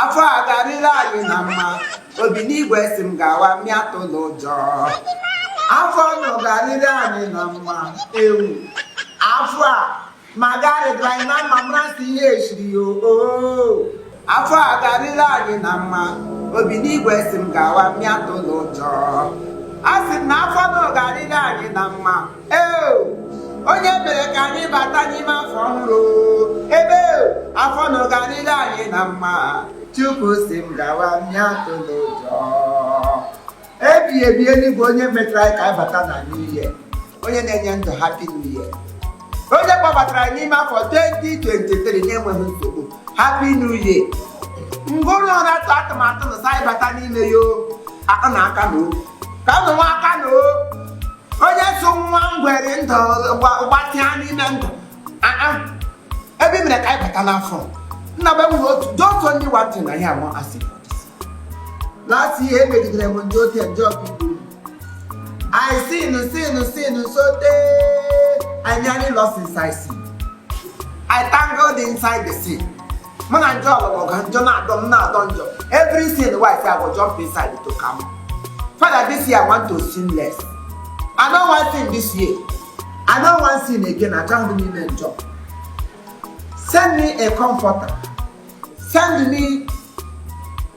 afọ a ga-arịrị anyị na mma obi n'igwe sị m gawa mụ atụla ụjọ afọ nụ ga-arịrị anyị na mma ewu afọ a ma ga-arịrị anyị na mma mara si ihe echiri ya oo afọ a ga-arịrị anyị na mma obi n'igwe sị m gawa mụ atụla ụjọ asị m na afọ nụ ga-arịrị anyị na mma onye mere ka anyị bata n'ime afọ ọhụrụ ebe afọ nụ ga-arịrị anyị na mma chukwu sị m gawa mụ atụla ụjọ ebi ebi eluigwe onye metara ka anyị bata na new year onye na-enye ndụ happy new year onye kpọbatara anyị n'ime afọ 2023 na-enweghị nsogbu happy new year ngụrụ na-atụ atụmatụ na sa anyị bata n'ime ya o, akụ na aka na o ka ụmụ nwa aka na o onye so nwa ngwere ndụ gbatịa n'ime ndụ ebe mere ka anyị bata n'afọ nna be nwere otu doto only one thing na ya wan ask last year emegidere m ndị ote ndị ọkpụkpụ I sin sin sin sote I nearly lost inside sin I tangled inside the sin. mụ na njọ ọlụlụ ọga njọ na-adọ m na-adọ njọ every sin wife I go jump inside to come father this year I want to sin less I no wan sin this year I no wan sin again achọghị m ime njọ send me a comforter send me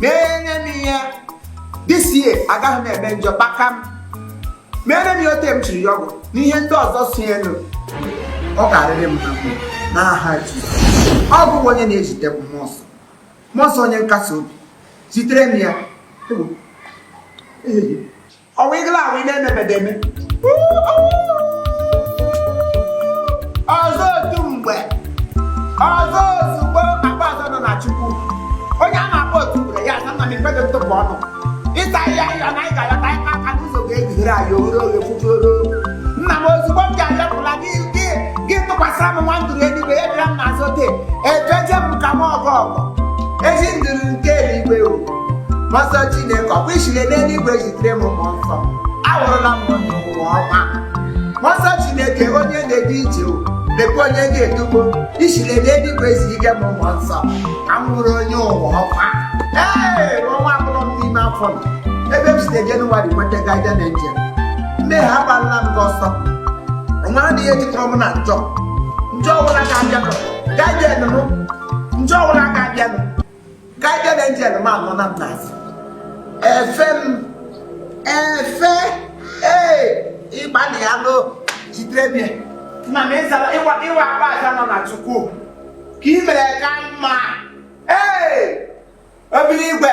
mere m ihe this year agaghị m eme njọ kpakam meere m ya ote m chiri ya ọgwụ na ihe ndị ọzọ si elu ọ ga-arịrị m na aha ọ bụ onye na-ezite m mmụọ nsọ mmụọ nsọ onye nkasi obi zitere m ya ọwa ịgla ahụ ị na-emebedeme ọzọ otu mgbe ọzọ ozugbo akpọ aza nọ na chukwu onye a na-akpọ otu mgbe ya na nna m ekpedo ntụpụ ọnụ ịta ihe ahịa na anyị ga-ayọta ịkpa aka n'ụzọ ga-ebighere anyị oghere oghe fufuoro nna m ozugbo m ga-ayọpụla gị gị tụkwasịra m nwa nduru eluigwe ya bịara m n'azụ ote efeje m ka m ọgọ ọgọ ezi nduru nke eluigwe o mmụọ nsọ chineke ọkwa ishile n'eluigwe zitere m mmụọ nsọ awụrụla m onye ụwa ọma mmụọ nsọ chineke onye na-edu ije o, lekwa onye ga-edugo ishile n'eluigwe zi ike m mmụọ nsọ ka m wụrụ onye ụwa ọma ee ọnwa abụrụ m n'ime afọ m ebe m site jenụwarị nweta guardian angel m mmehie agbalala m gị ọsọ o nwerọ ihe jikọrọ mụ na njọ njọ ọbụla ga-abịanụ guardian m njọ ọbụla ga-abịanụ guardian angel m anọ na m n'azụ efe m efe ee ịgbalị ya n'o jidere m ya nna m ị zara ị wụ akpọ aza nọ na chukwu ka ị mere ka mma ee obi n'igwe